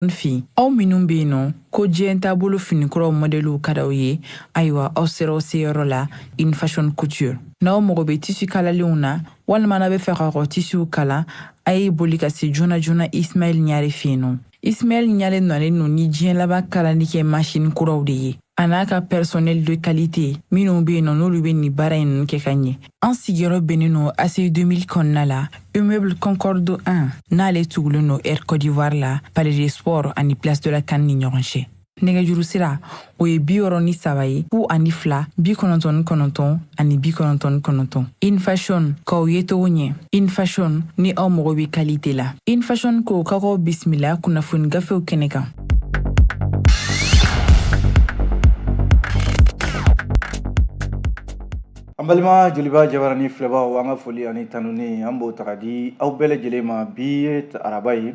N fin aw minnu bɛ yen nɔ ko diɲɛ taabolo finikuraw mɔdɛliw ka d'aw ye ayiwa aw sera aw seyɔrɔ la infashion couture n'aw mago bɛ tisi kalalenw na walima n'aw b'a fɛ k'aw ka tisiw kala a ye boli ka se joona joona ismaɛl ɲare fɛ yen nɔ ismaɛl ɲare nalen don ni diɲɛ laban kalali kɛ masini kuraw de ye a n'a ka personnel de qualité minnu bɛ yen nɔ n'olu bɛ nin baara in ninnu kɛ ka ɲɛ An sigiyɔrɔ bɛnnen don ACI 2000 kɔnɔna la, immeuble Concorde 1, n'ale tugulen don Air Côte d'Ivoire la, Palais des Sports ani Place de la CAN ni ɲɔgɔn cɛ. Nɛgɛjuru sira, o ye bi wɔɔrɔ ni saba ye, fu ani fila, bi kɔnɔntɔn ni kɔnɔntɔn ani bi kɔnɔntɔn ni kɔnɔntɔn. Infashion, k'aw yecogo ɲɛ. Infashion, ni aw mago bɛ kalite la. Infashion ko k'aw k'aw bisimila kunnafoni gafew kɛnɛ kan. An balima joliba jabarani filɛbaw an ka foli ani tanuni an b'o taga di aw bɛɛ lajɛlen ma bi ye araba ye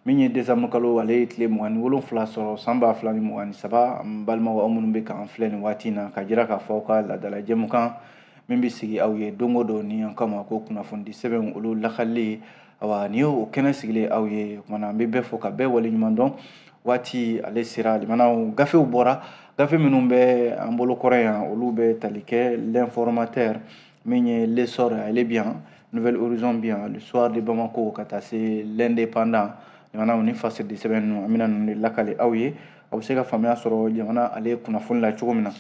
min ye décembre kalo ale ye tile mugan ni wolonwula sɔrɔ san ba fila ni mugan ni saba an balimaw aw minnu bɛ k'an filɛ nin waati in na ka jira k'a fɔ aw ka laadala jɛmukan min bɛ sigi aw ye don o don ni an k'a ma ko kunnafonidi sɛbɛnw olu lakalili awa nin y'o kɛnɛ sigilen aw ye o kumana an bɛ bɛɛ fo ka bɛɛ waleɲuman dɔn waati ale sera limanaw gafew bɔra gafe minnu bɛ an bolo kɔrɔ yan olu bɛ tali kɛ l'informateur min ye l'essor ale bi yan nouvel horizon bi yan le soir de bamako ka taa se l'indépendant limanaw ni fasiridi sɛbɛn ninnu an bɛna ninnu de lakali aw ye aw bɛ se ka faamuya sɔrɔ jamana ale kunnafoni la cogo min na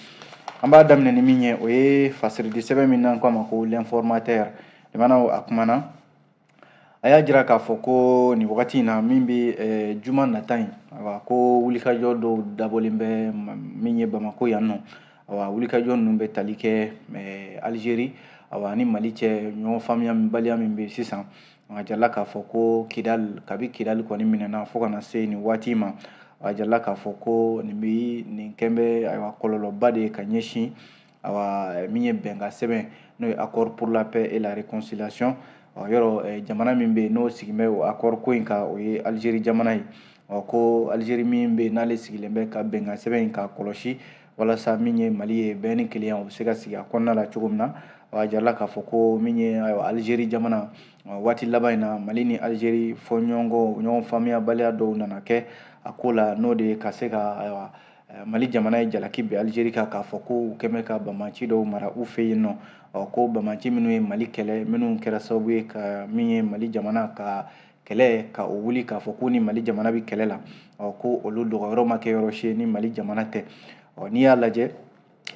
an b'a daminɛ ni min ye o ye fasiridi sɛbɛn min n'an k'a ma ko l'informateur limanaw a kumana a y'a jira k'a fɔ ko nin wagati in na min bɛ eh, juma nata in awa ko wulikajɔ dɔw dabɔlen bɛ min ye bamako yan nɔ awa wulikajɔ ninnu bɛ tali kɛ eh, alizeri awa ni mali cɛ ɲɔgɔn faamuyabaliya min bɛ sisan a jirala k'a fɔ ko kidali kabi kidali kɔni minɛna fo ka na se nin waati ma a jirala k'a fɔ ko nin bɛ nin kɛn bɛ ayiwa kɔlɔlɔba de ye ka ɲɛsin awa min ye bɛnkan sɛbɛn n'o ye accord pour la paix et la réconciliation ɔ yɔrɔ jamana min bɛ yen n'o sigilen bɛ o accord ko in kan o ye Algérie jamana ye ɔ ko Algérie min bɛ yen n'ale sigilen bɛ ka bɛnkan sɛbɛn in ka kɔlɔsi walasa min ye Mali ye bɛn ni kelenya o bɛ se ka sigi a kɔnɔna la cogo min na a jirala k'a fɔ ko min ye ayiwa Algérie jamana waati laban in na Mali ni Algérie fɔɲɔgɔnkɔ ɲɔgɔn faamuyabaliya dɔw nana kɛ a ko la n'o de ye ka se ka ayiwa Eh, mali jamana ye jalaki bin alizeri kan k'a fɔ ko u kɛn bɛ ka banbaanci dɔw mara u fɛ yen nɔ ɔ, ko banbaanci minnu ye mali kɛlɛ minnu kɛra sababu ye ka min ye mali jamana ka kɛlɛ ka o wuli k'a fɔ k'u ni mali jamana bɛ kɛlɛ la ɔ, ko olu dogoyɔrɔ ma kɛ yɔrɔ si ni mali jamana tɛ ɔ, n'i y'a lajɛ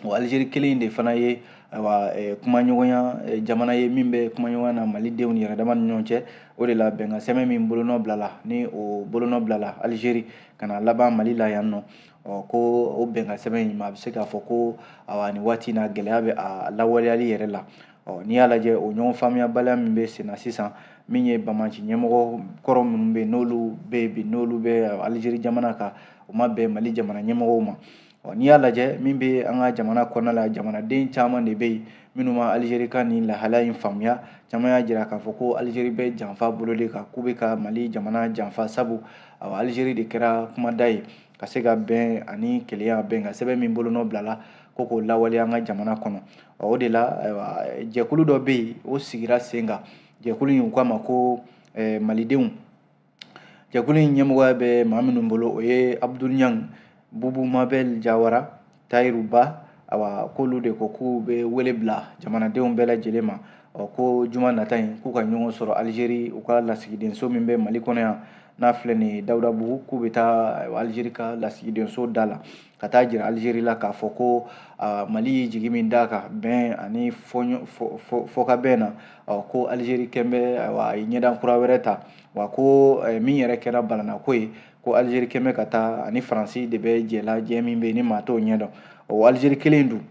o alizeri kelen de fana ye ayiwa eh, kumaɲɔgɔnya eh, jamana ye min bɛ kumaɲɔgɔnya na malidenw yɛrɛ dama ni ɲɔgɔn cɛ o de la bɛnkan sɛbɛn min bolonɔ bilala ni o bolonɔ bilala alizeri ka na laban mali la yan nɔ ɔ ko o bɛnkan sɛbɛn in ma a bɛ se k'a fɔ ko awa nin waati na gɛlɛya bɛ a lawaleyali yɛrɛ la ɔ n'i y'a lajɛ o ɲɔgɔn faamuyabaliya min bɛ senna sisan min ye banbaanci ɲɛmɔgɔ kɔrɔ minnu bɛ yen n'olu bɛ bi n'olu bɛ alizeri jamana kan o ma bɛn mali jamana ɲɛmɔgɔw ma Ɔ n'i y'a lajɛ min bɛ an ka jamana kɔnɔna la jamanaden caman de bɛ yen minnu ma alizeri ka nin lahala in faamuya caman y'a jira k'a fɔ ko alizeri bɛ janfa bolo de kan k'u bɛ ka mali jamana janfa sabu ɔ alizeri de kɛra kumada ye ka se ka bɛn ani kelenya bɛnkan sɛbɛn min bolonɔ bilala ko k'o lawaleya an ka jamana kɔnɔ ɔ o de la jɛkulu dɔ bɛ yen o sigira sen kan jɛkulu in u k'a ma ko malidenw jɛkulu in ɲɛmɔgɔya bɛ maa minnu bolo o ye abudul ɲang bubu mabɛl jawara tayiru ba awa k'olu de ko k'u bɛ wele bila jamanadenw bɛɛ lajɛlen ma ɔ ko juma nata in k'u ka ɲɔgɔn sɔrɔ alizeri u ka lasigidenso min bɛ mali kɔnɔ yan n'a filɛ nin ye dawudabugu k'u bɛ taa alizeri ka lasigidenso da la ka taa jira alizeri la k'a fɔ ko mali ye jigi min d'a kan bɛn ani fɔkabɛn na ko alizeri kɛn bɛ a ye ɲɛdan kura wɛrɛ ta wa ko min yɛrɛ kɛra balanako ye ko alizeri kɛn bɛ ka taa ani faransi de bɛ jɛ la jɛ min bɛ yen ni maa t'o ɲɛdɔn o alizeri kelen dun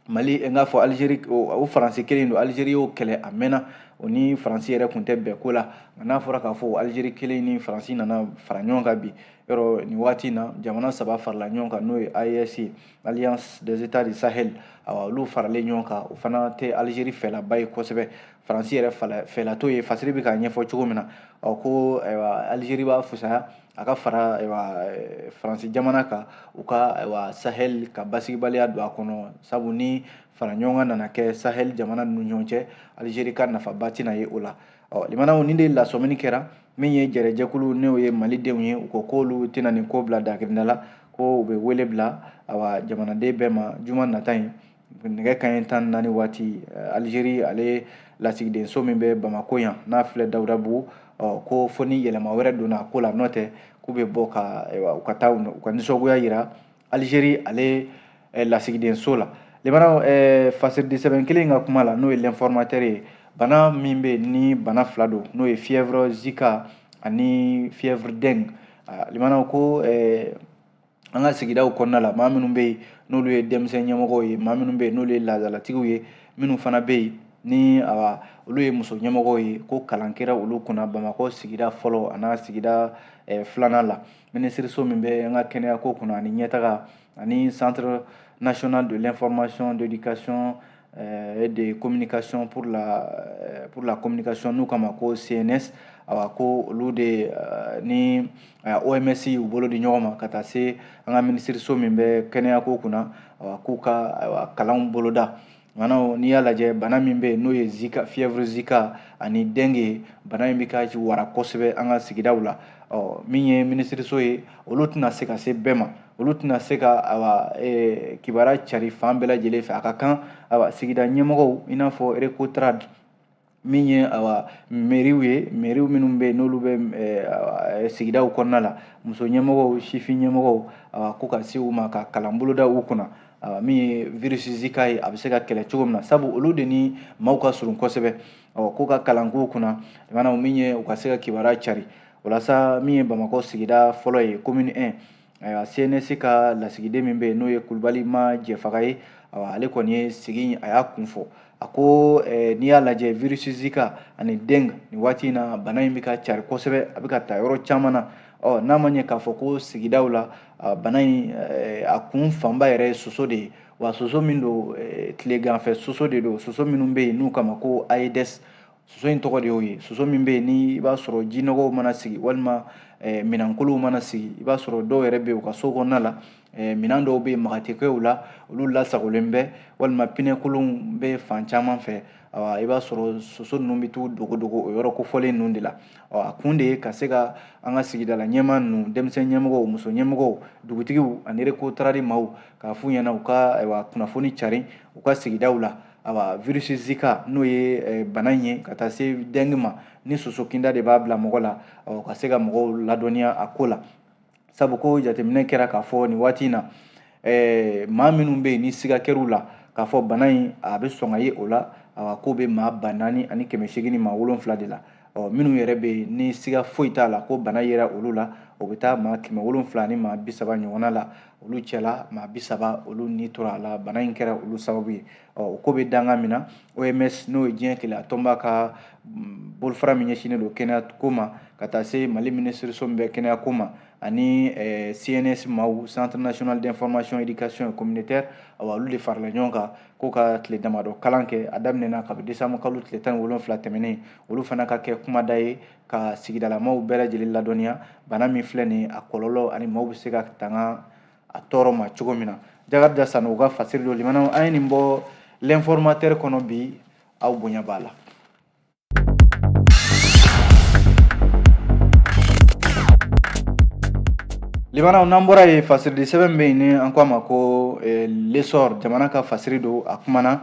mali n k'a fɔ alizeri o faransi kelen don alizeri y'o kɛlɛ a mɛnna o ni faransi yɛrɛ kun tɛ bɛn ko la nka n'a fɔra k'a fɔ alizeri kelen ni faransi nana fara ɲɔgɔn kan bi yɔrɔ nin waati in na jamana saba farala ɲɔgɔn kan n'o ye AES ye Alliance des États du Sahel awa olu faralen ɲɔgɔn kan o fana tɛ Algérie fɛlaba ye kosɛbɛ Faransi yɛrɛ fɛla t'o ye fasiri bɛ k'a ɲɛfɔ cogo min na ɔ ko ayiwa Algérie b'a fusaya a ka fara eh, faransi jamana kan u ka sahel ka basigibaliya don a kɔnɔ sabu ni fara ɲɔgɔn kan nana kɛ sahel jamana ninnu ɲɔgɔn cɛ alizeri ka nafaba tɛna ye o la ɔ limanaw nin de lasɔmini kɛra min ye jɛrɛjɛkulu n'o ye malidenw ye u ko k'olu tɛna nin ko bila dakirinda la ko u bɛ wele bila awa jamanaden bɛɛ ma juma nata in nɛgɛ kanɲɛ tan ni naani waati eh, alizeri ale lasigidenso min bɛ bamako yan n'a filɛ dawudabugu ko fo ni yɛlɛma wɛrɛ donna ko la n'o tɛ k'u bɛ bɔ ka u ka taa u ka nisɔngoya yira alizeri ale eh, lasigidenso la limanaw eh, fasiridi sɛbɛn kelen ka kuma la n'o ye l'informateur ye bana min bɛ ni bana fila don n'o ye fièvre zika ani fièvre dengue limanaw ko an ka sigidaw kɔnɔna la maa minnu bɛ yen n'olu ye denmisɛn ɲɛmɔgɔw ye maa minnu bɛ yen n'olu ye laadalatigiw ye minnu fana bɛ yen ni olu ye muso ɲɛmɔgɔw ye ko kalan kɛra olu kunna bamakɔ sigida fɔlɔ a n'a sigida eh, filanan la minisiriso min bɛ an ka kɛnɛyako kunna ani ɲɛtaga ani centre national de l'information d'éducation et de communication pour la, eh, pour la communication n'u k'a ma ko cns awa ko olu de eh, ni oms y'u bolo di ɲɔgɔn ma ka taa se an ka minisiriso min bɛ kɛnɛyako kunna awa k'u ka kalanw boloda maanaam n'i y'a lajɛ bana min bɛ n'o ye zika fièvre zika ani dengue bana in bɛ ka wara kosɛbɛ an ka sigidaw la ɔ min ye minisiriso ye olu tɛna se ka se bɛɛ ma olu tɛna se ka awa e, kibaruya cari fan bɛɛ lajɛlen fɛ a ka kan awa sigida ɲɛmɔgɔw i n'a fɔ recotrade min ye awa meriw ye meriw minnu bɛ yen n'olu bɛ e, e, sigidaw kɔnɔna la muso ɲɛmɔgɔw sifin ɲɛmɔgɔw awa ko ka se u ma ka kalan boloda u kunna awa min ye virisi zika ye a bɛ se ka kɛlɛ cogo min na sabu olu de ni maaw ka surun kosɛbɛ awa ko ka kalan k'u kunna maanaam min ye u ka se ka kibaruya cari walasa min ye bamakɔ sigida fɔlɔ ye komini 1 ayiwa cns ka lasigiden min bɛ yen n'o ye kulubali ma jɛfaga ye ale kɔni ye sigi a y'a kun fɔ a ko eh, n'i y'a lajɛ virus zika ani dengue nin waati in na bana in bɛ ka cari kosɛbɛ a bɛ ka taa yɔrɔ caman na ɔ n'a ma ɲɛ k'a fɔ ko sigidaw la bana in eh, a kun fanba yɛrɛ ye soso de ye wa soso min don eh, tileganfɛ soso de don soso minnu bɛ yen n'u k'a ma ko aedes soso in tɔgɔ de y'o ye soso min bɛ yen ni i b'a sɔrɔ jinɔgɔw mana sigi walima eh, minɛnkolonw mana sigi i b'a sɔrɔ dɔw yɛrɛ bɛ yen u ka so kɔnɔna la eh, minɛn dɔw bɛ yen maga tɛ kɛ u la olu lasagolen bɛ walima pinɛkolonw bɛ fan caman fɛ i b'a sɔrɔ soso ninnu bɛ t'u dogodogo o yɔrɔ kofɔlen ninnu de la a kun de ye ka se ka an ka sigidala ɲɛmaa ninnu denmisɛn ɲɛmɔgɔw muso ɲɛmɔgɔw dugutigiw ani recotrade maaw k'a f'u ɲɛna u ka kunnafoni cari u ka sigidaw la ayiwa virisi zika n'o ye eh, bana in ye ka taa se dengue ma ni soso kinda de b'a bila mɔgɔ la ka se ka mɔgɔw ladɔnniya a ko la sabu ko jateminɛ kɛra k'a fɔ nin waati in na eh, maa minnu bɛ yen ni siga kɛr'u la k'a fɔ bana in a bɛ sɔn ka ye o la awa k'o bɛ maa ba naani ani kɛmɛ seegin ni maa wolonfila de la ɔ minnu yɛrɛ bɛ yen ni siga foyi t'a la ko bana yera olu la o bɛ taa maa kɛmɛ wolonfila ni maa bi saba ɲɔgɔnna la olu cɛla maa bi saba olu ni tora a la bana in kɛra olu sababu ye o ko bɛ danga min na oms n'o ye diɲɛ kelenya tɔnba ka mm, bolofara min ɲɛsinnen don kɛnɛya ko ma ka taa se mali minisiriso min bɛ kɛnɛya ko ma ani eh, cns maaw centre national d'information éducation et communautaire awa olu de farala ɲɔgɔn kan ko ka tile damadɔ kalan kɛ a daminɛna kabi desanburu kalo tile tan ni wolonfila tɛmɛnen olu fana ka kɛ kumada ye ka sigidalamaw bɛɛ lajɛlen ladɔnniya bana min filɛ nin a kɔlɔlɔ ani maaw bɛ se ka tanga a tɔɔrɔ ma cogo min na jakarija sani u ka fasiri don limanaw an ye nin bɔ l'informateur kɔnɔ bi aw bonya b'a la limanaw n'an bɔra yen fasiridi sɛbɛn bɛ yen ni an ko a ma ko eh, l'essor jamana ka fasiri don a kumana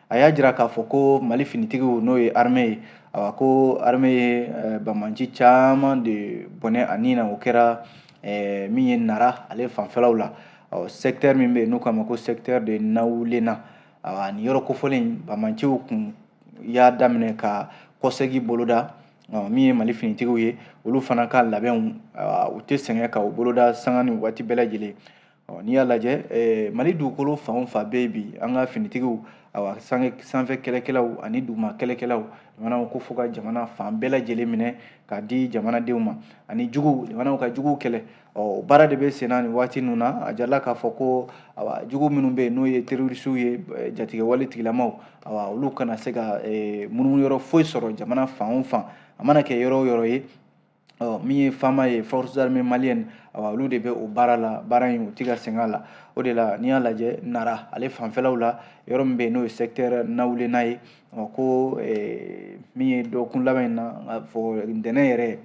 a y'a jira k'a fɔ ko mali finitigiw n'o ye armée ye awa ko armée ye eh, bamanci caman de bɔnɛ a ni na o kɛra eh, min ye nara ale fanfɛlaw la ɔ secteur min bɛ yen n'u k'a ma ko secteur de nawulena awa nin yɔrɔ kofɔlen bamanciw kun y'a daminɛ ka kɔsegi boloda min ye mali finitigiw ye olu fana ka labɛnw u tɛ sɛgɛn ka u boloda sanga ni waati bɛɛ lajɛlen ɔ n'i y'a lajɛ eh, mali dugukolo fan o fan bɛ bi an ka finitigiw awa sanfɛ kɛlɛkɛlaw ani duguma kɛlɛkɛlaw jamanaw ko fo ka jamana fan bɛɛ lajɛlen minɛ k'a di jamanadenw ma ani juguw jamanaw ka juguw kɛlɛ ɔ baara de bɛ senna nin waati ninnu na a jirala k'a fɔ ko awa jugu minnu bɛ yen n'o ye terorisiw ye eh, jatigɛwale tigilamaw awa olu kana se ka eh, munumunu yɔrɔ foyi sɔrɔ jamana fan o fan a mana kɛ yɔrɔ o yɔrɔ ye ɔ min ye faama ye forces armées maliennes awa olu de bɛ o baara la baara in u ti ka sɛgɛn a la o de la n'i y'a lajɛ nara ale fanfɛlaw la yɔrɔ min bɛ yen n'o ye secteur nawulena ye ɔ ko eh, min ye dɔgɔkun laban in na n k'a fɔ ntɛnɛn yɛrɛ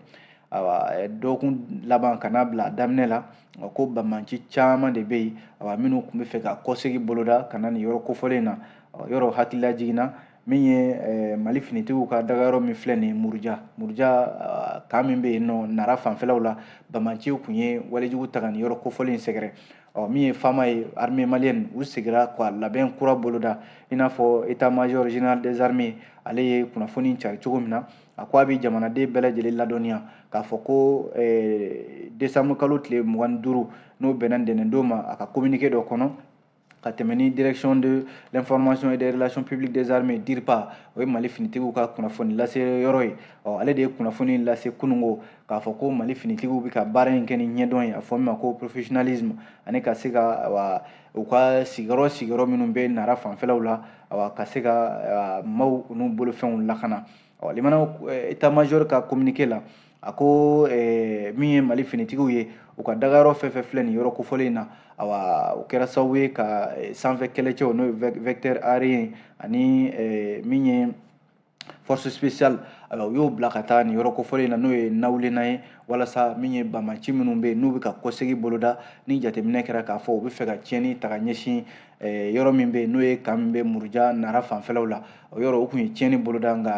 awa eh, dɔgɔkun laban ka n'a bila a daminɛ la ɔ ko bamanci caman de bɛ yen awa minnu tun bɛ fɛ ka kɔsegi boloda ka na nin yɔrɔ kofɔlen na ɔ yɔrɔ hakililajigin na min ye eh, mali finitigiw ka dagayɔrɔ min filɛ nin muruja muruja ah, kan min bɛ yen ɔ nara fanfɛlaw la bamanciw tun ye walejugu ta ka nin yɔrɔ kofɔlen in sɛgɛrɛ ɔ min ye faama ye armée malienne u segira ka labɛn kura boloda i n'a fɔ état major général des armées ale ye kunnafoni cari cogo min na a ko a bɛ jamanaden bɛɛ lajɛlen ladɔnniya k'a fɔ ko eh, desanburukalo tile mugan ni duuru n'o bɛnna ntɛnɛndon ma a ka communiqué dɔ kɔnɔ ka tɛmɛ ni direction de l'information et des relations publiques des armées DIRPA o ye Mali finitigiw ka kunnafoni lase yɔrɔ ye ɔ ale de ye kunnafoni lase kunungo k'a fɔ ko Mali finitigiw bɛ ka baara in kɛ ni ɲɛdɔn ye a fɔ min ma ko professionnalisme ani ka se ka wa u ka sigiyɔrɔ sigiyɔrɔ minnu bɛ Nara fanfɛlaw la wa ka se ka maaw n'u bolofɛnw lakana ɔ limanaw état major ka communiqué la a ko eh, min ye mali finitigiw ye u ka dagayɔrɔ fɛn fɛn filɛ nin yɔrɔ kofɔlen in na awa o kɛra sababu ye ka eh, sanfɛ kɛlɛcɛw n'o ye vecteur aérien ani eh, min ye force spéciale alors u y'o bila ka taa nin yɔrɔ kofɔlen na n'o ye nawulena ye walasa min ye bamanci minnu bɛ yen n'u bɛ ka kɔsegi boloda ni jateminɛ kɛra k'a fɔ u bɛ fɛ ka tiɲɛni ta ka ɲɛsin eh, yɔrɔ min bɛ yen n'o ye kan min bɛ muruja nara fanfɛlaw la o yɔrɔ o tun ye tiɲɛni boloda nka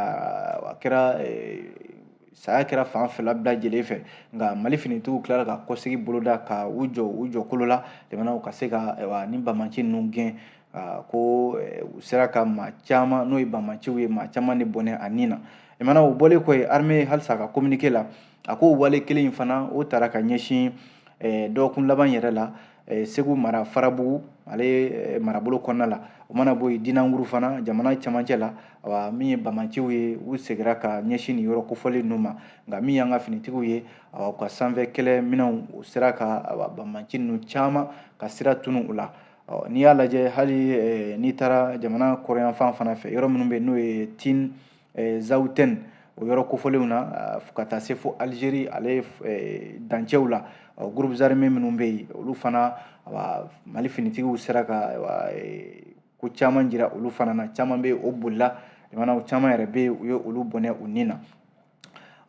a kɛra eh, saya kɛra fan fila bɛɛ lajɛlen fɛ nka mali finitigiw tilara ka kɔsegi boloda ka u jɔ u jɔ kolo la jamanaw ka se ka ni bamaci ninnu gɛn ko u sera ka maa caman n'o ye bamaciw ye maa caman de bɔnɛ a ni na jamana o bɔlen kɔ yen armée halisa ka communiqué la a ko wale kelen in fana o taara ka ɲɛsin dɔgɔkun laban yɛrɛ la eh, segu mara farabugu ale eh, marabolo kɔnɔna la o mana bɔ yen dinanguru fana jamana camancɛ la wa min ye bamanciw ye u segira ka ɲɛsin nin yɔrɔ kofɔlen ninnu ma nka min y'an ka finitigiw ye u ka sanfɛ kɛlɛ minɛnw u sera ka bamanci ninnu caman ka sira tunu u la n'i y'a lajɛ hali eh, n'i taara jamana kɔrɔyanfan fana fɛ yɔrɔ minnu bɛ n'o ye tin eh, zawutɛni o yɔrɔ kofɔlenw na ah, fo ka taa se fo alizeri ale eh, dancɛw la ah, groupes armés minnu bɛ yen olu fana ah, mali finitigiw sera ka eh, ko caman jira olu fana na caman bɛ o bolila jamanaw caman yɛrɛ bɛ u ye olu bɔnɛ u ni na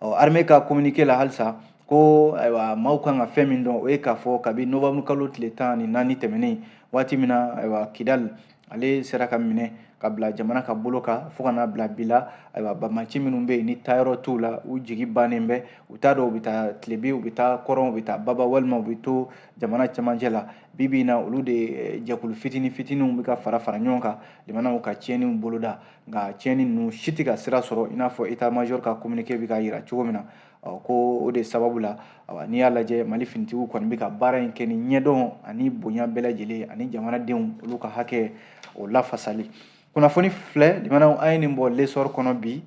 armée ka communiqué la halisa ko ayiwa maaw kan ka fɛn min dɔn o ye k'a fɔ kabi novembre kalo tile tan ni naani tɛmɛnen waati min na ayiwa kidali ale sera ka minɛ ka bila jamana ka bolo kan fo ka n'a bila bi la ayiwa bamaci minnu bɛ yen ni taayɔrɔ t'u la u jigi bannen bɛ u t'a dɔn u bɛ taa tilebin u bɛ taa kɔrɔn u bɛ taa baba walima u bɛ to jamana camancɛ la bi bi in na olu de eh, jɛkulu fitini fitiniw bɛ ka fara fara ɲɔgɔn kan jamanaw ka tiɲɛniw boloda nka tiɲɛni ninnu si tɛ ka sira sɔrɔ i n'a fɔ état major ka communiqué bɛ k'a jira cogo min na ɔ ko o de sababu la awa n'i y'a lajɛ mali finitigiw kɔni bɛ ka baara in kɛ ni ɲɛdɔn ani bonya bɛɛ lajɛlen ani jamanadenw olu ka hakɛ o lafasali kunnafoni filɛ limanaw an ye nin bɔ l'essor kɔnɔ bi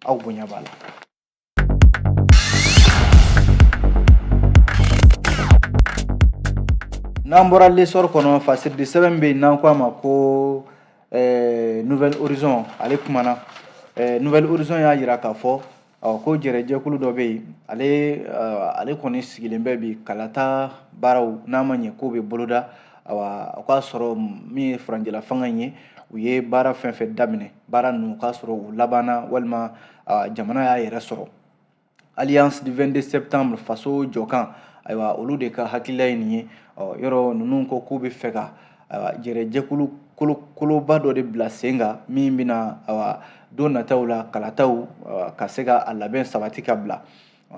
aw bonya b'a la n'an bɔra l'essor kɔnɔ fasiridi sɛbɛn bɛ yen n'an ko a ma ko eh, nouvel horizon ale kumana eh, nouvel horizon y'a jira k'a fɔ ɔ ko jɛrɛjɛkulu dɔ bɛ yen ale ale kɔni sigilen bɛ bi kalata baaraw n'a ma ɲɛ k'o bɛ boloda awa o k'a sɔrɔ min ye furancɛla fanga in ye u ye baara fɛn fɛn daminɛ baara ninnu k'a sɔrɔ u labanna walima jamana y'a yɛrɛ sɔrɔ alliance du 22 septembre faso jɔkan ayiwa olu de ka hakilila ye nin ye ɔ yɔrɔ ninnu ko k'u bɛ fɛ ka ayiwa jɛrɛjɛkulu kolo koloba dɔ de bila sen kan min bɛna ayiwa don nataw la kalataw ka se ka a labɛn sabati ka bila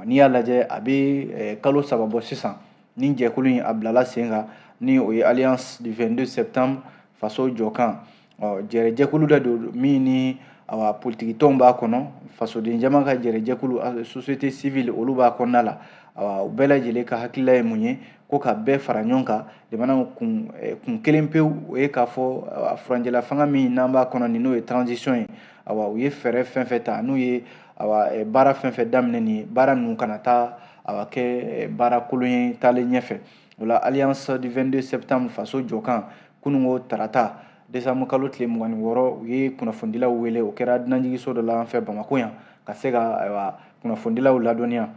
n'i y'a lajɛ a bɛ kalo saba bɔ sisan ni jɛkulu in a bilala sen kan ni o ye alliance du 22 septembre faso jɔkan ɔ jɛrɛjɛkulu dɔ don min ni awa politikitɔnw b'a kɔnɔ fasoden jama ka jɛrɛjɛkulu société civile olu b'a kɔnɔna la awa u bɛɛ lajɛlen ka hakilila ye mun ye ko ka bɛɛ fara ɲɔgɔn kan jamanaw kun eh, kun kelen pewu o ye k'a fɔ a furancɛla fanga min n'an b'a kɔnɔ nin n'o ye transition ye awa u ye fɛɛrɛ fɛn fɛn ta n'u ye awa eh, baara fɛn fɛn daminɛ nin ye baara ninnu kana taa awa kɛ eh, baara kolon ye taalen ɲɛfɛ o la alliance du 22 septembre faso jɔkan kununko tarata desanbu kalo tile mugan ni wɔɔrɔ u ye kunnafonidilaw wele o kɛra dunanjigiso dɔ la an fɛ bamako yan ka se ka ayiwa kunnafonidilaw ladɔnniya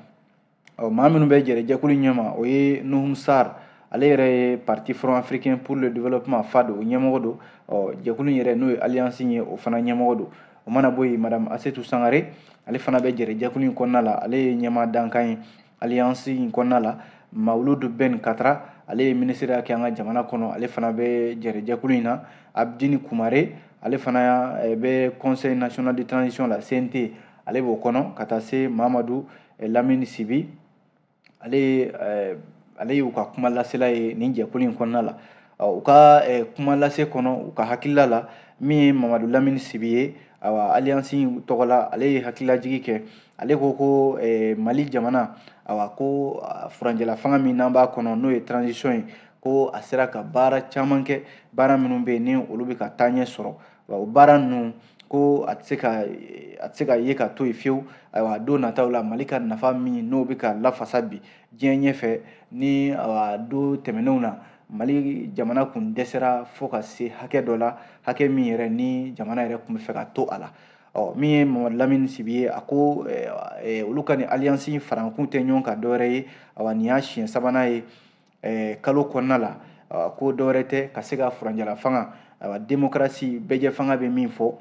ɔ maa minnu bɛ jɛrɛjɛkulu ɲɛma o ye nuhum sar ale yɛrɛ ye parti front africain pour le développement fad o ɲɛmɔgɔ don ɔ jɛkulu in yɛrɛ n'o ye alliance ye o fana ɲɛmɔgɔ don o mana bɔ yen madame asetu sangare ale fana bɛ jɛrɛjɛkulu in kɔnɔna la ale ye ɲɛmaa dankan ye alliance in kɔnɔna la mawuludu ben katra ale ye minisiriya kɛ an ka jamana kɔnɔ ale fana bɛ jɛrɛjɛkulu in na abdini kumare ale fana eh, bɛ conseil national de transition la cnt ale b'o kɔnɔ ka taa se mamadu Lamini Sibi ale ye ale ye u ka kuma lasela ye nin jɛkulu in kɔnɔna la u ka kuma lase kɔnɔ u ka hakilila la min ye Mamadu Lamini Sibi ye awa alliance in tɔgɔ la ale ye hakililajigi kɛ ale ko ko Mali jamana awa ko furanjɛla fanga min n'an b'a kɔnɔ n'o ye transition ye ko a sera ka baara caman kɛ baara minnu bɛ yen ni olu bɛ ka taaɲɛ sɔrɔ wa o baara ninnu ko a tɛ se ka a tɛ se ka ye ka to yen fiyewu ayiwa don nataw la mali ka nafa min n'o bɛ ka lafasa bi diɲɛ ɲɛfɛ ni awa don tɛmɛnenw na mali jamana kun dɛsɛra fo ka se hakɛ dɔ la hakɛ min yɛrɛ ni jamana yɛrɛ kun bɛ fɛ ka to a la ɔ min ye mamadu lamini sibi ye a ko olu ka nin alliance farakun tɛ ɲɔgɔn kan dɔwɛrɛ ye awa nin y'a siɲɛ sabanan ye eh, kalo kɔnɔna la ah, ko dɔwɛrɛ tɛ ka se ka furanjɛla fanga ayiwa demokarasi bɛɛjɛ fanga bɛ min fɔ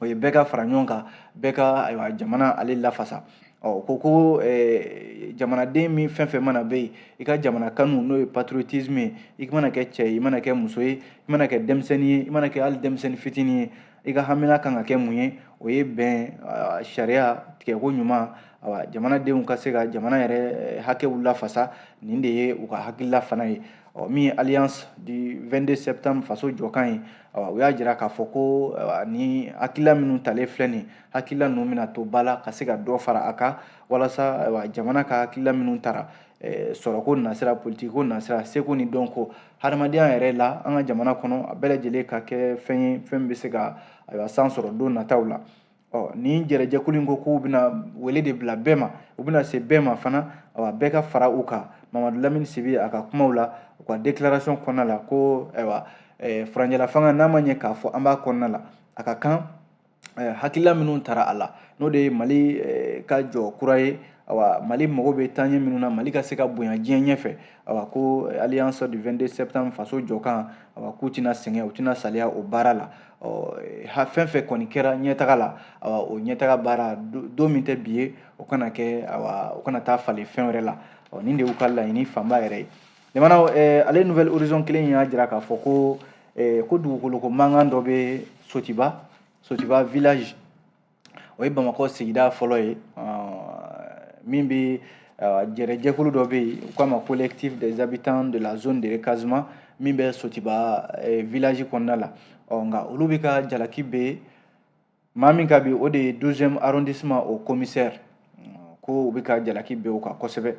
o ye bɛɛ ka fara ɲɔgɔn kan bɛɛ ka ayiwa jamana ale lafasa ɔ ko ko eh, jamanaden min fɛn fɛn mana bɛ yen i ka jamana kanu n'o ye patriotisme ye i mana kɛ cɛ ye i mana kɛ muso ye i mana kɛ denmisɛnnin ye i mana kɛ hali denmisɛnnin fitinin ye i ka hamina kan ka kɛ mun ye o ye bɛn sariya tigɛko ɲuman awa jamanadenw ka se ka jamana yɛrɛ eh, hakɛw lafasa nin de ye u ka hakilila fana ye ɔ min ye alliance du 22 septembre faso jɔkan ye awa u y'a jira k'a fɔ ko nin hakilila minnu talen filɛ nin hakilila ninnu bɛna to ba la ka se ka dɔ fara a kan walasa jamana ka hakilila minnu tara eh, sɔrɔko nasira politikiko nasira seko ni dɔnko hadamadenya yɛrɛ la an ka jamana kɔnɔ a bɛɛ lajɛlen ka kɛ fɛn ye fɛn min bɛ se ka ayiwa san sɔrɔ don nataw la ɔ nin jɛrɛjɛkulu in ko k'u bɛna wele de bila bɛɛ ma u bɛna se bɛɛ ma fana awa bɛɛ ka fara u kan mamadu lamini sibi a ka kumaw la u ka declaration kɔnɔna la ko ayiwa eh, furancɛlafanga n'an b'a ye k'a fɔ an b'a kɔnɔna la a ka kan hakilila minnu tara a la n'o de ye mali ka jɔ kura ye ayiwa mali mago bɛ taaɲɛ minnu na mali ka se ka bonya diɲɛ ɲɛfɛ ayiwa ko alliance du 22 septembre faso jɔkan ayiwa k'u tɛna sɛgɛn u tɛna saliya o baara la ɔ fɛn fɛn kɔni kɛra ɲɛtaga la ayiwa o ɲɛtaga baara don min tɛ bi ye o kana kɛ ayiwa o kana taa falen fɛn wɛrɛ la ɔ nin de y'u ka laɲini fanba yɛrɛ ye Jamana ale nouvel horizon kelen y'a jira k'a fɔ ko ko dugukolo ko mankan dɔ bɛ sotiba sotiba village o ye bamakɔ sigida fɔlɔ ye min bɛ jɛrɛjɛkulu dɔ bɛ yen u k'a ma collectif des habitants de la zone de recasement min bɛ sotiba village kɔnɔna la ɔ nka olu bɛ ka jalaki bin maa min kan bi o de ye douzième arrondissement o commissaire ko u bɛ ka jalaki bin o kan kosɛbɛ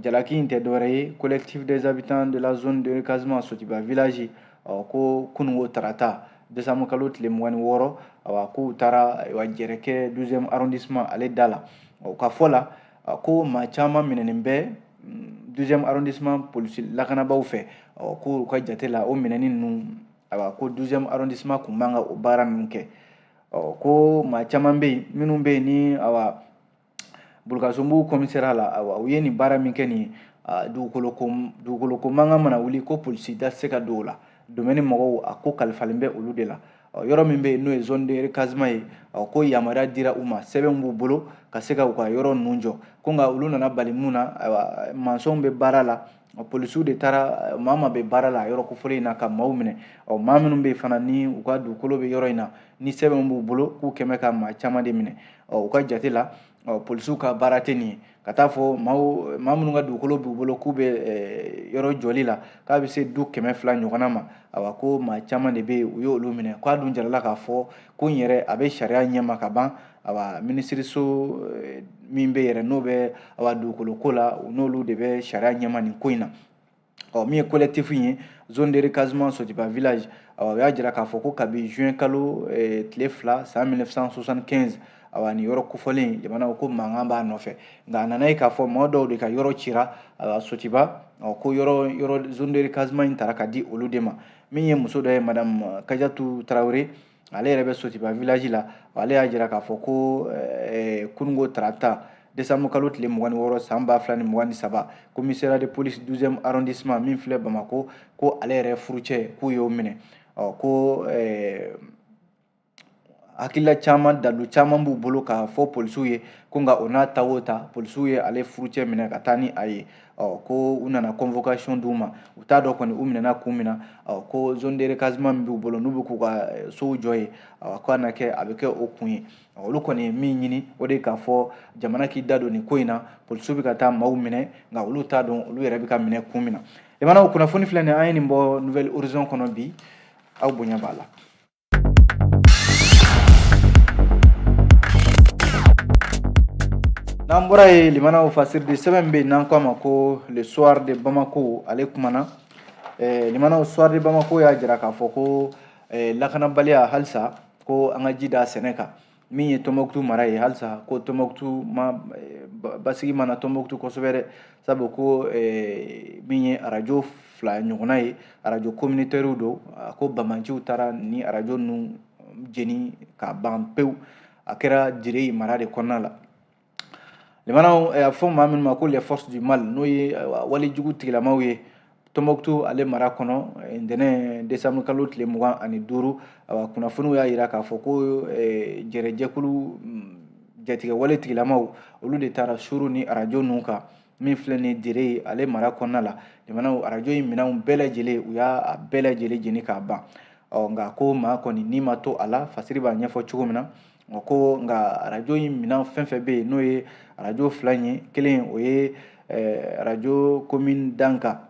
jalaki in tɛ dɔwɛrɛ ye collectif des habitants de la zone de recasement sotiba village ko kununko tarata desanbu kalo tile mugan ni wɔɔrɔ awa k'u taara ayiwa jɛrɛ kɛ douzième arrondissement ale da la u ka fɔ la ko maa caman minɛnen bɛ mm, douzième arrondissement polisi lakanabaaw fɛ k'u ka jate la o minɛni ninnu ayiwa ko douzième arrondissement kun man ka o baara ninnu kɛ ɔ ko maa caman bɛ yen minnu bɛ yen ni awa bulukasunbugu commissariat la awa u ye nin baara min kɛ nin dugukolo ko dugukolo ko mankan mana wuli ko polisi da tɛ se ka don o la domaine mɔgɔw a ko kalifalen bɛ olu de la yɔrɔ min bɛ yen n'o ye zone de recasement ye ko yamaruya dira u ma sɛbɛn b'u bolo ka se ka u ka yɔrɔ ninnu jɔ ko nka olu nana bali mun na ayiwa mansɔnw bɛ baara la polisiw de taara eh, maa ma bɛ baara la yɔrɔ kofɔlen in na ka maaw minɛ ɔ maa minnu bɛ fana ni u ka dugukolo bɛ yɔrɔ in na ni sɛbɛn b'u bolo k'u kɛmɛ ka maa caman de minɛ ɔ u ka jate la ɔ polisiw ka baara tɛ nin ye ka taa fɔ maaw maa minnu ka dugukolo b'u bolo k'u bɛ eh, yɔrɔ jɔli la k'a bɛ se du kɛmɛ fila ɲɔgɔnna ma awa ko maa caman de bɛ yen u y'olu minɛ k'a dun jarala k'a fɔ ko in yɛrɛ a bɛ sariya ɲɛma ka ban awa minisiriso eh, min bɛ yɛrɛ n'o bɛ awa dugukolo ko la u n'olu de bɛ sariya ɲɛma nin ko in na ɔ min ye collectif ye zone de recasement sotiba village awa u y'a jira k'a fɔ ko kabi juin kalo eh, tile fila san 1975 awa nin yɔrɔ kofɔlen jamana ko mankan b'a nɔfɛ nka a nana ye k'a fɔ mɔgɔ dɔw de ka yɔrɔ cira awa sotiba ɔ ko yɔrɔ yɔrɔ zone de recasement in tara ka di olu de ma min ye muso dɔ ye madame kajatu tarawele ale yɛrɛ bɛ sotiba village la ale y'a jira k'a fɔ ko eh, kununko tarata desanbu kalo tile mugan ni wɔɔrɔ san ba fila ni mugan ni saba commissariat de police douzième arrondissement min filɛ bamako ko ale yɛrɛ furucɛ k'u y'o minɛ ɔ ko eh, hakilila caman dalu caman b'u bolo k'a fɔ polisiw ye ko nka o n'a ta o ta polisiw ye ale furucɛ minɛ ka taa ni a ye ɔ ko u nana convocation d'u ma u t'a dɔn kɔni u minɛna kun min na ɔ ko zone de recasement min b'u bolo n'u bɛ k'u ka eh, sow jɔ yen ɔ k'a na kɛ a bɛ kɛ o kun ye olu kɔni ye min ɲini o de ye k'a fɔ jamana k'i da don nin ko in na polisiw bɛ ka taa maaw minɛ nka olu t'a dɔn olu yɛrɛ bɛ ka minɛ kun min na limanaw kunnafoni filɛ nin an ye nin bɔ nouvel horizon kɔnɔ bi aw bonya b'a la n'an bɔra yen limanaw fasiri de sɛbɛn bɛ yen n'an k'a ma ko le soir de bamako ale kumana eh, limanaw soir de bamako y'a jira k'a fɔ ko eh, lakanabaliya halisa ko an ka ji d'a sɛnɛ kan min ye tɔnbɔkutu mara ye halisa ko tɔnbɔkutu ma eh, basigi ma na tɔnbɔkutu kosɛbɛ dɛ sabu ko eh, min ye arajo fila ɲɔgɔnna ye arajo communautaires don a ko bamanciw taara ni arajo ninnu jeni ka ban pewu a kɛra dire mara de kɔnɔna la Limanaw a fɔ maa minnu ma ko les forces du mal n'o ye wale jugu tigilamaw ye Tombouctou ale mara kɔnɔ ntɛnɛn décembre kalo tile mugan ani duuru kunnafoniw y'a jira k'a fɔ ko jɛrɛjɛkulu jatigɛ wale tigilamaw olu de taara suuru ni arajo ninnu kan min filɛ nin dire ale mara kɔnɔna la limanaw arajo in minɛnw bɛɛ lajɛlen u y'a bɛɛ lajɛlen jeni k'a ban ɔ nka ko maa kɔni ni ma to a la fasiri b'a ɲɛfɔ cogo min na o ko nka arajo in minɛn fɛn fɛn bɛ yen n'o ye arajo fila in ye kelen o ye eh, arajo komin danga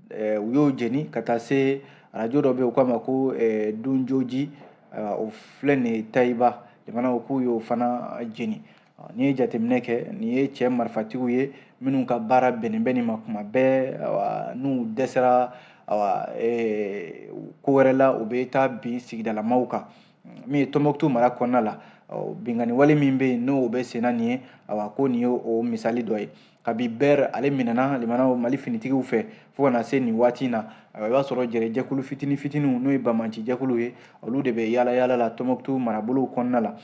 eh, u y'o jeni ka taa se arajo dɔ bɛ yen u k'a ma ko eh, dunjoji o filɛ nin ye tayiba limanaw k'u y'o fana jeni n'i ye jateminɛ kɛ nin ye cɛ marifatigiw ye minnu ka baara bɛnnen bɛ nin ma kuma bɛɛ n'u dɛsɛra ko wɛrɛ la u bɛ taa bin sigidalamaw kan min ye tɔnbɔkutu mara kɔnɔna la binkanni wale min bɛ yen n'o bɛ senna nin ye awa ko nin ye o misali dɔ ye kabi bɛr ale minɛna limanaw mali finitigiw fɛ fo ka na se nin waati in na i b'a sɔrɔ jɛrɛjɛkulu fitini fitiniw n'o ye bamanci jɛkulu ye olu de bɛ yaala yaala la tɔnbɔkutu marabolow kɔnɔna la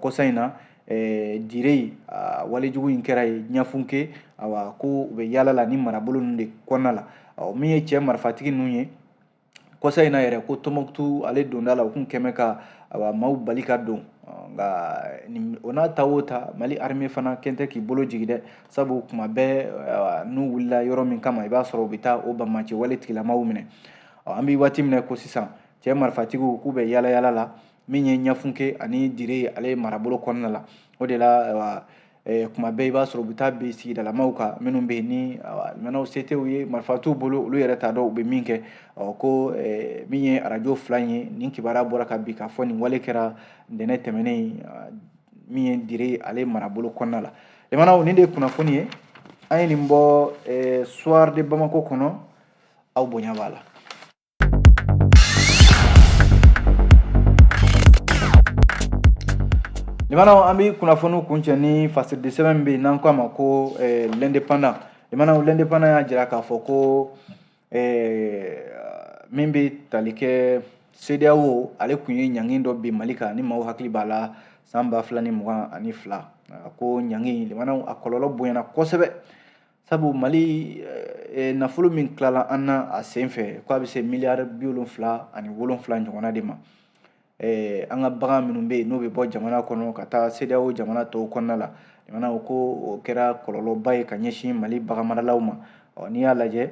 kɔsa in na dire walejugu in kɛra ye ɲafunke awa ko u bɛ yaala la ni marabolo ninnu de kɔnɔna la min ye cɛ marifatigi ninnu ye kɔsa in na yɛrɛ ko tɔnbɔkutu ale donda la u tun kɛmɛ ka awa maaw bali ka don nka o n'a ta o ta mali armée fana kɔni tɛ k'i bolo jigi dɛ sabu kuma bɛɛ n'u wulila yɔrɔ min kama i b'a sɔrɔ u bɛ taa o bamanci wale tigilamaw minɛ an bɛ waati min na ko sisan cɛ marifatigiw k'u bɛ yaala yaala la min ye ɲafunke ani dire ale marabolo kɔnɔna la o de la Eh, kuma bɛɛ i b'a sɔrɔ u bɛ taa bin sigidalamaw kan minnu bɛ yen limanaw se tɛ u ye marifa t'u bolo olu yɛrɛ t'a dɔn u bɛ min kɛ ko eh, min ye arajo fila in ye nin kibaruya bɔra ka bi k'a fɔ nin wale kɛra ntɛnɛn tɛmɛnen min ye dire ale marabolo kɔnɔna la limanaw nin de ye kunnafoni ye an ye nin bɔ eh, soir de bamako kɔnɔ aw bonya b'a la Limanaw an bɛ kunnafoniw kuncɛ ni fasiridi sɛbɛn min bɛ yen n'an k'a ma ko eh, l'indépendant limanaw l'indépendant y'a jira k'a fɔ ko eh, min bɛ tali kɛ CEDEAO ale kun ye ɲangin dɔ bin Mali kan ni maaw hakili b'a la san ba fila ni mugan ani fila a ko ɲangin limanaw a kɔlɔlɔ bonyana kosɛbɛ sabu mali eh, eh, nafolo min tilala an na a sen fɛ ko a bɛ se miliyari bi wolonfila ani wolonfila ɲɔgɔnna de ma eh, an ka bagan minnu bɛ yen n'o bɛ bɔ jamana kɔnɔ ka taa CEDEAO jamana tɔw kɔnɔna la limanaw ko o kɛra kɔlɔlɔba ye ka ɲɛsin mali baganmaralaw ma ɔ n'i y'a lajɛ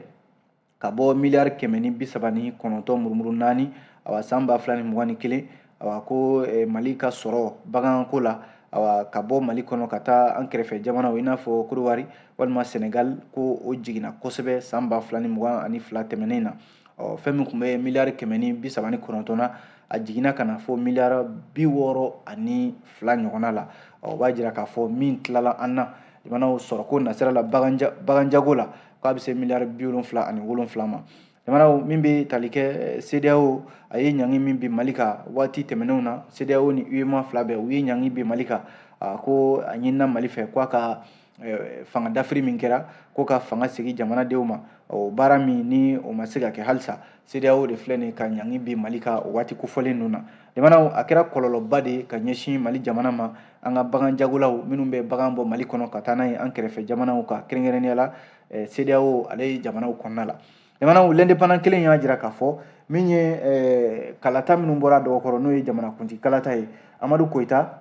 ka bɔ miliyari kɛmɛ ni bi saba ni kɔnɔntɔn murumuru naani awa san ba fila ni mugan ni kelen awa ko eh, mali ka sɔrɔ baganko la awa ka bɔ mali kɔnɔ ka taa an kɛrɛfɛ jamanaw i n'a fɔ kodowari walima senegal ko o jiginna kosɛbɛ san ba fila ni mugan ani fila tɛmɛnen na ɔ fɛn min tun bɛ miliyari kɛmɛ ni bi saba ni kɔnɔntɔn na a jiginna ka na fɔ miliyari bi wɔɔrɔ ani fila ɲɔgɔnna la ɔ o b'a jira k'a fɔ min tilala an na limanaw sɔrɔko nasira la baganjago la k'a bɛ se miliyari bi wolonfila ani wolonfila ma limanaw min bɛ tali kɛ eh, CEDEAO a ye ɲangi min bin Mali kan waati tɛmɛnenw na CEDEAO ni UEMOA fila bɛɛ u ye ɲangi bin Mali kan a ko a ɲinina Mali fɛ k'a ka eh, fanga dafiri min kɛra ko ka fanga segin jamanadenw ma o baara min ni o ma se ka kɛ halisa CEDEAO de filɛ nin ka ɲangi bin Mali kan o waati kofɔlen ninnu na limanaw a kɛra kɔlɔlɔba de ye ka ɲɛsin Mali jamana ma an ka baganjagolaw minnu bɛ bagan bɔ mali kɔnɔ ka taa n'a ye an kɛrɛfɛ jamanaw kan kɛrɛnkɛrɛnnenya la eh, CEDEAO ale ye jamanaw kɔnɔna la limanaw l'indépendant kelen y'a jira k'a fɔ min ye eh, kalata minnu bɔra dɔgɔkɔrɔ n'o ye jamanakuntigi kalata ye amadu koyita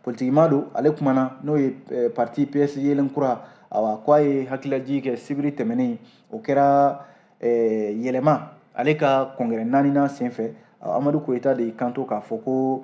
politikima don ale kumana n'o ye eh, parti ps yelen kura awa ko a ye hakililajigin kɛ sibiri tɛmɛnen o kɛra yɛlɛma ale ka kɔngɛrɛ naaninan senfɛ amadu koyita de y'i kanto k'a fɔ ko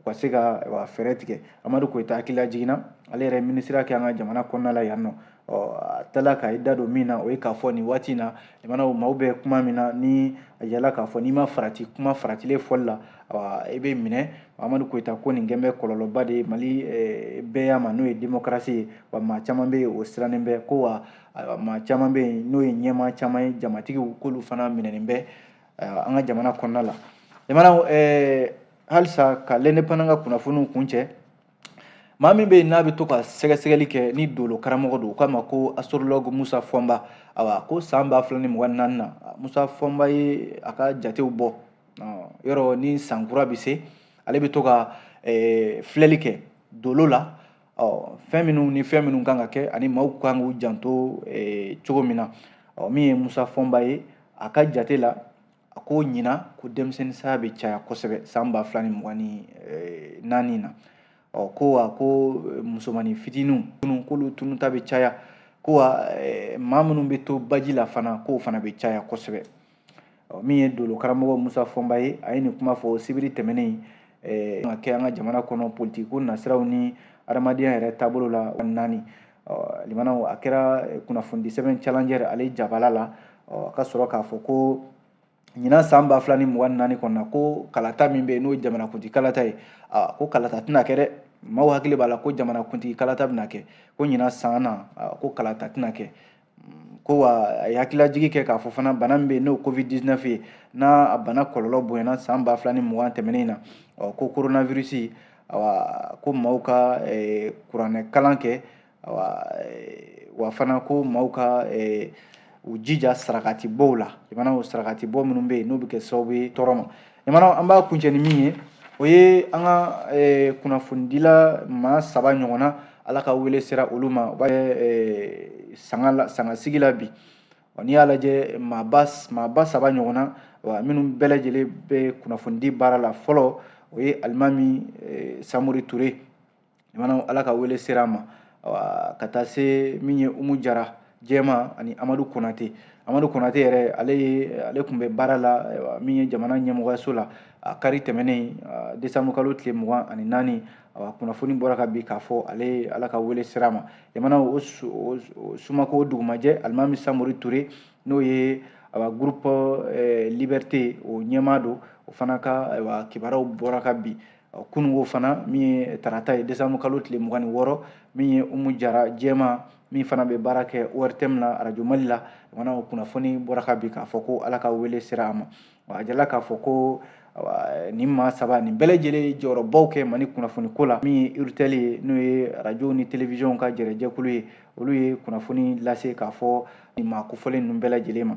u ka se ka fɛɛrɛ tigɛ amadu koyita hakililajigin na ale yɛrɛ minisiriya kɛ an ka jamana kɔnɔna la yan nɔ a tilala ka i da don min na o ye k'a fɔ nin waati in na limanaw maaw bɛ kuma min na ni a yala k'a fɔ n'i ma farati kuma faratilen fɔli la i bɛ minɛ amadu koyita ko nin kɛlen bɛ kɔlɔlɔba de ye mali bɛɛ ma n'o ye demokarasi ye wa maa caman bɛ yen o sirannen bɛ ko wa maa caman bɛ yen n'o ye ɲɛmaa caman ye jamatigiw k'olu fana minɛnen bɛ an ka jamana kɔnɔna la jamana halisa ka l'indépendant ka kunnafoniw kun cɛ maa min bɛ yen n'a bɛ to ka sɛgɛsɛgɛli kɛ ni dolo karamɔgɔ don u k'a ma ko astrologue musa fɔnba awa ko san ba fila ni mugan ni naani na musa fɔnba ye a ka jatew bɔ yɔrɔ ni san kura bɛ se ale bɛ to ka filɛli kɛ dolo la fɛn minnu ni fɛn minnu kan ka kɛ ani maaw kan k'u janto cogo min na min ye musa fɔnba ye a ka jate la a ko ɲinan ko denmisɛnnin saya bɛ caya kosɛbɛ san ba fila ni mugan ni eh, naani na ɔ ko wa ko eh, musomanin fitininw minnu k'olu tununta bɛ caya ko wa eh, maa minnu bɛ to baji la fana k'o fana bɛ caya kosɛbɛ ɔ min ye dolo karamɔgɔ musa fɔnba ye a ye nin kuma fɔ sibiri tɛmɛnen ka kɛ an ka jamana kɔnɔ politiko nasiraw ni adamadenya yɛrɛ taabolo la naani limanaw a kɛra eh, kunnafoni sɛbɛn challenger ale jabala la a ka sɔrɔ k'a fɔ ko ɲinan san ba fila ni mugan ni naani kɔnɔna ko kalata min bɛ yen n'o ye jamanakuntigi kalata ye ko kalata tɛna kɛ dɛ maaw hakili b'a la ko jamanakuntigi kalata bɛna kɛ ko ɲinan san na ko kalata tɛna kɛ ko wa a ye hakililajigi kɛ k'a fɔ fana bana min bɛ yen n'o covid 19 ye n'a a bana kɔlɔlɔ bonyana san ba fila ni mugan tɛmɛnen na ɔ ko coronavirus awa ko maaw ka eh, kuranɛ kalan kɛ awa eh, wa fana ko maaw ka eh, u jija sarakatibɔw la jamana sarakatibɔ minnu bɛ yen n'o bɛ kɛ sababu ye tɔɔrɔ ma jamana an b'a kuncɛ ni min ye o ye an ka eh, kunnafonidila maa saba ɲɔgɔnna ala ka wele sera olu ma u bɛ eh, sanga la sangasigi la bi n'i y'a lajɛ maaba maaba saba ɲɔgɔnna wa minnu bɛɛ lajɛlen bɛ kunnafonidi baara la fɔlɔ o ye alimami eh, samori ture jamana ala ka wele sera a ma ka taa se min ye umu jara jɛma ani amadu konate amadu konate yɛrɛ ale ye ale tun bɛ baara la min ye jamana ɲɛmɔgɔyaso la a kari tɛmɛnen desanbu kalo tile mugan ani naani kunnafoni bɔra ka bi k'a fɔ ale ala ka wele sera a ma jamana o sumako dugumajɛ alimami samori ture n'o ye groupe liberté o ɲɛmaa don o fana ka kibaruyaw bɔra ka bi kununko fana min ye tarata ye desanbu kalo tile mugan ni wɔɔrɔ min ye umu jara jɛma min fana bɛ baara kɛ ortm na arajo mali la jamana o kunnafoni bɔra ka bi k'a fɔ ko ala ka wele sera a ma a jirala k'a fɔ ko nin maa saba nin bɛɛ lajɛlen ye jɔyɔrɔba kɛ mali kunnafoni ko la min ye urtel ye n'o ye arajo ni telewisiyɔnw ka jɛrɛjɛkulu ye olu ye kunnafoni lase k'a fɔ nin maa kofɔlen ninnu bɛɛ lajɛlen ma